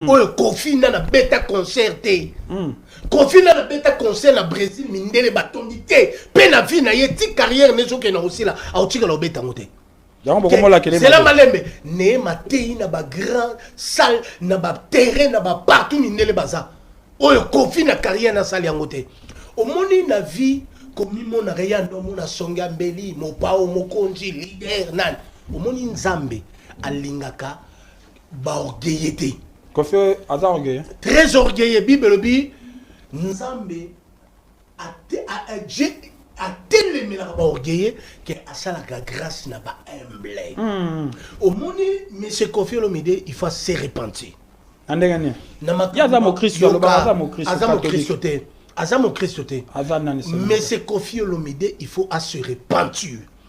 oyo kofi na na beta concert te mm. kofi na na beta concert na brésil mindele batondi te mpe na vie na ye ti carrière ne ezokende na kosila aotikala obeta yango te zela malembe neye mateyi na bagrand salle na baterrain na bapartout mindele baza oyo kofi na carrière nasali yango te omoni na vie komimonaka ye ando omona songe ya mbeli mopao mokonzi lider nani omoni nzambe alingaka ba orgueilleux te kofi aza orgueilleux très orgueilleux bible elobi nzambe atelemelaka ba orgueilleux ke asalaka grâce na ba humble hmm. omoni monsieur kofi olomide il faut se repentir na ndenge nini aza mokristo aloba aza mokristo aza mokristo te aza mokristo te monsieur kofi olomide il faut a se repentir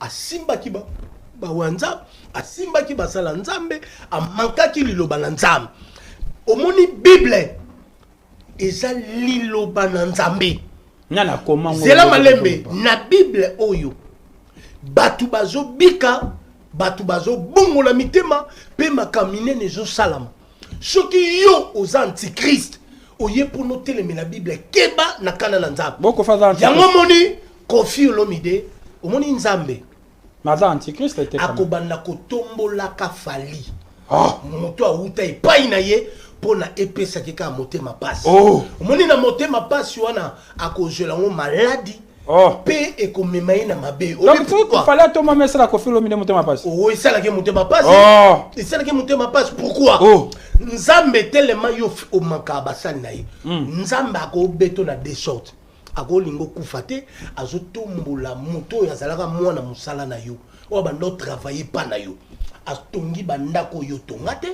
asimbaki bawa nzambe asimbaki basala nzambe amankaki liloba na nzambe omoni bible eza liloba na nzambe zela malembe na bible oyo bato bazobika bato bazobongola mitema mpe makambo minene ezosalama soki yo oza antichrist oye mpona otelemela bible keba na kanda na nzambeyango omoni kofi olomide omoni nzambe akobanda kotombolaka fali ah. moto awuta epai na ye mpo na epesaki kaka motema mpasi oh. omoni na motema mpasi wana akozwela yango maladi Oh. mpe ekomema ye na mabe fale atoma ma esala kofi olomide motema pasi o oh, esalaki motema pasi oh. esalaki motema pasi pourkui nzambe telema yo omaka basali na ye hmm. nzambe akobeto na de sorte akolinga okufa te azotombola moto oyo azalaka mwana mosala na yo oyo bando travaille mpa na yo atongi bandako oyo otonga te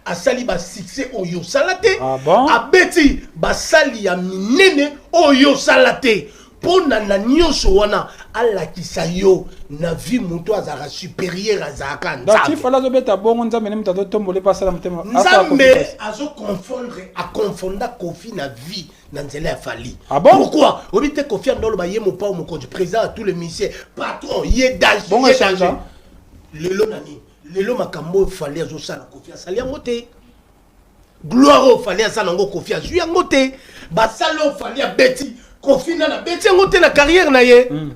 asali ba succès oyo osala te ah bon? abeti basali ya minene oyo osala te mpo na na nyonso wana alakisa yo na vie moto azalaka supérieur azalaka nzambetifala azobeta bongo nzambe ne moto azotombole mpe asala motema nzambe azoconfondre aconfonda kofi na vie na nzela ya fali ah bon? pourkui oyebi te kofi andoloba ye mopao mokonzi président ya tous les musicien patron ye danger lelo na nini lelo makambo oyo fali azosala kofi asali yango te gloire oyo fali asala yango kofi azwi yango te basali oyo fali abeti kofi nana abeti yango te na carrière na ye mm.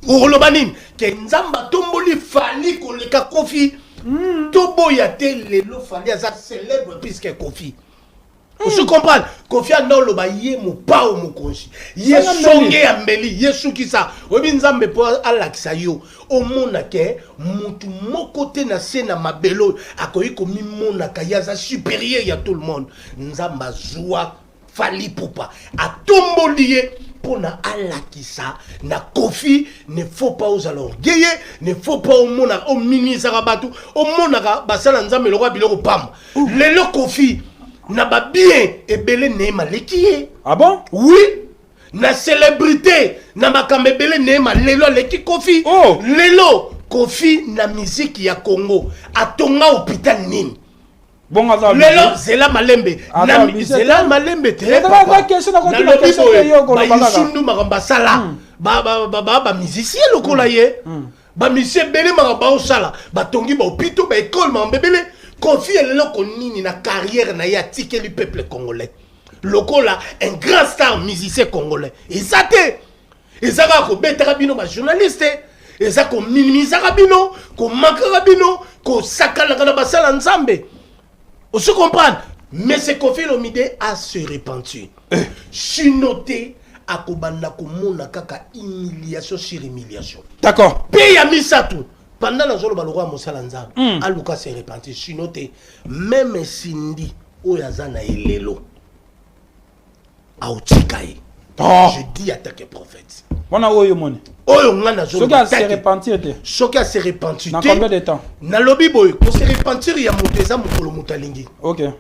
okoloba nini ke nzambe atomboli fali koleka kofi mm. toboya te lelo fali aza célèbre puiske kofi osi hmm. comprendre kofi anda oloba ye mopao mokonzi ye songe ya mbeli ye sukisa oyebi nzambe mpo alakisa yo omona ke mutu moko te na se na mabele oyo akoki komimonaka ye aza supérieur ya tout le monde nzambe azwa fali pupa atomboli ye mpo na alakisa na kofi ne faut pas ozala orgueille ne faut pas omonaka ominisaka bato omonaka basala nzambe lokola biloko pamba lelo kofi na ba bien ebele neema aleki ye ah bon oui na célébrité na makambo ebele neema lelo aleki kofi oh. lelo kofi na miziki ya congo atonga hôpital nini lelo zela malembe zela malembe tenalobi boye bayisundu makambo basala bamusicien lokola ye Ba missions ebele maka baosala, batongi ba hopitaux, ba ecole maka mbebele. Kofi eloko nini na carrière na ye atikeli peuple congolais lokola un grand star musicien congolais eza te eza kaka kobetaka bino bajournaliste eza kominimisaka bino komakaka bino kosakanaka na basala nzambe osi comprendre mese kofi lomide a se repentir eh. sino te akobanda komona kaka humiliation sur humiliation d'accord mpe ya misato banda nazoloba lokola mosala nzambe mm. aluka se repentir sino te meme sindi oyo aza na ye lelo aotika ye oh. je dis attaque prophète wana oyo moni oyo ngai nazosoki ase repentir te soki ase repentir te combien de temps nalobi boye kose repentir ya moto eza mokolo moto alingi ok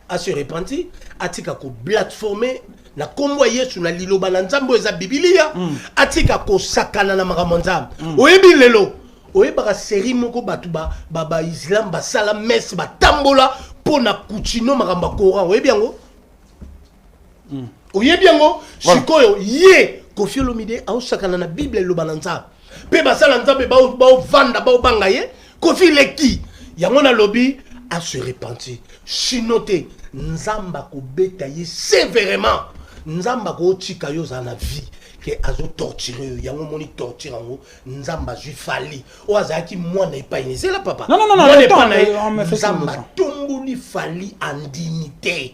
ase repentir atika koblatforme na nkombo ya yesu na liloba na nzambe oyo eza bibilia mm. atika kosakana na makambo ya nzambe mm. oyebi lelo oyebaka serie moko bato baislam ba, ba basala messe batambola mpo na kuchino makambo ya coran oyebi yango mm. oyebi yango voilà. sikoyo ye kofi olomide aosakana na bible eloba na nzambe mpe basala nzambe baovanda baobanga ye kofi leki yango nalobi ase repentir sino te nzambe akobeta ye severement nzambe akotika yo ozala na vie ke azotorture yo yango omoni torture yango nzambe azwi fali oyo azalaki mwana epai ne zela papa mwana epai na ye nzambe atomboli fali andimi te